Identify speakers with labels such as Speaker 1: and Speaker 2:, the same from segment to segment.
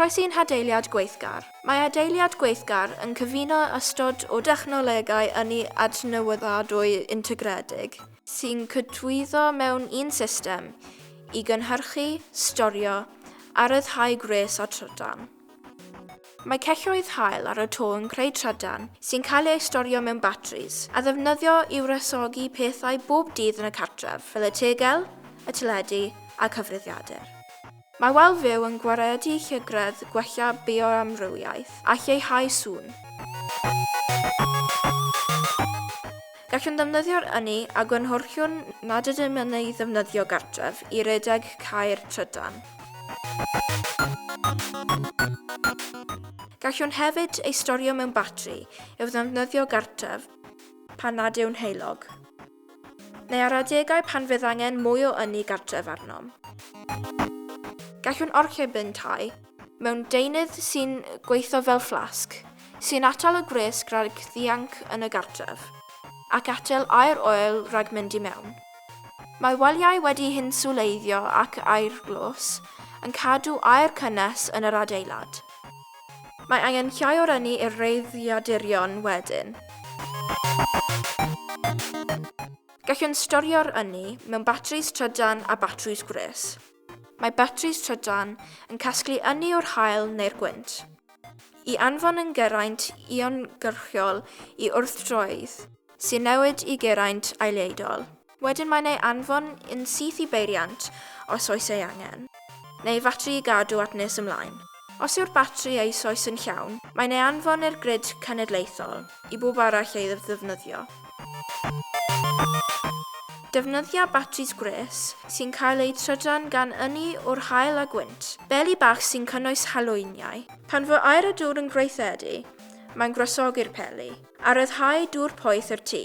Speaker 1: Croesi yn hadeiliad gweithgar. Mae adeiliad gweithgar yn cyfuno ystod o dechnolegau ynni adnewyddadwy integredig sy'n cydwyddo mewn un system i gynhyrchu, storio a rhyddhau gwres a trydan. Mae celloedd haul ar y to yn creu trydan sy'n cael eu storio mewn batris a ddefnyddio i wresogi pethau bob dydd yn y cartref, fel y tegell, y teledu a cyfrifiadur. Mae wal fyw yn gwaredu llygredd gwella bioamrywiaeth a lleihau sŵn. Gallwn ddefnyddio'r ynni a gynhyrchwn nad ydym yn ei ddefnyddio gartref i redeg cau'r trydan. Gallwn hefyd ei storio mewn batri i'w ddefnyddio gartref pan nad yw'n heulog. Neu ar adegau pan fydd angen mwy o ynni gartref arnom. Gallwn orchymyn tai mewn deunydd sy'n gweithio fel fflasg, sy'n atal y gwres rhag ddianc yn y gartref, ac atal aer oer rhag mynd i mewn. Mae waliau wedi hinswleiddio ac aerglos yn cadw aer cynnes yn yr adeilad. Mae angen llai o'r ynni i'r reiddiadurion wedyn. Gallwn storio'r ynni mewn batris trydan a batris gwres. Mae batris trydan yn casglu ynni o'r haul neu'r gwynt. I anfon yn geraint iongyrchol i wrthdroedd sy'n newid i geraint aeleidol. Wedyn mae'n ei anfon yn syth i beiriant os oes ei angen, neu fatri i gadw at nes ymlaen. Os yw'r batri eisoes yn llawn, mae'n ei anfon i'r grid cenedlaethol i bawb arall ei ddefnyddio. Defnyddia batris gwres sy'n cael eu trydan gan ynni o'r haul a gwynt, beli bach sy'n cynnwys halwyniau. Pan fo aer a dŵr yn gweithredu, mae'n gwresogi'r peli, a ryddhau dŵr poeth i'r tŷ.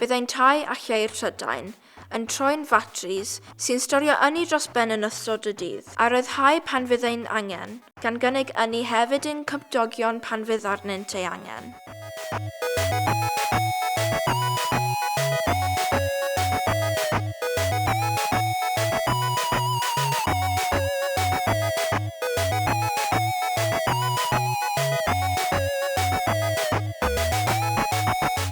Speaker 1: Byddai'n tai a cheir Prydain yn troi'n fatris sy'n storio ynni dros ben yn ystod y dydd, a ryddhau pan fydd ein angen, gan gynnig ynni hefyd i'n cymdogion pan fydd arnynt ei angen.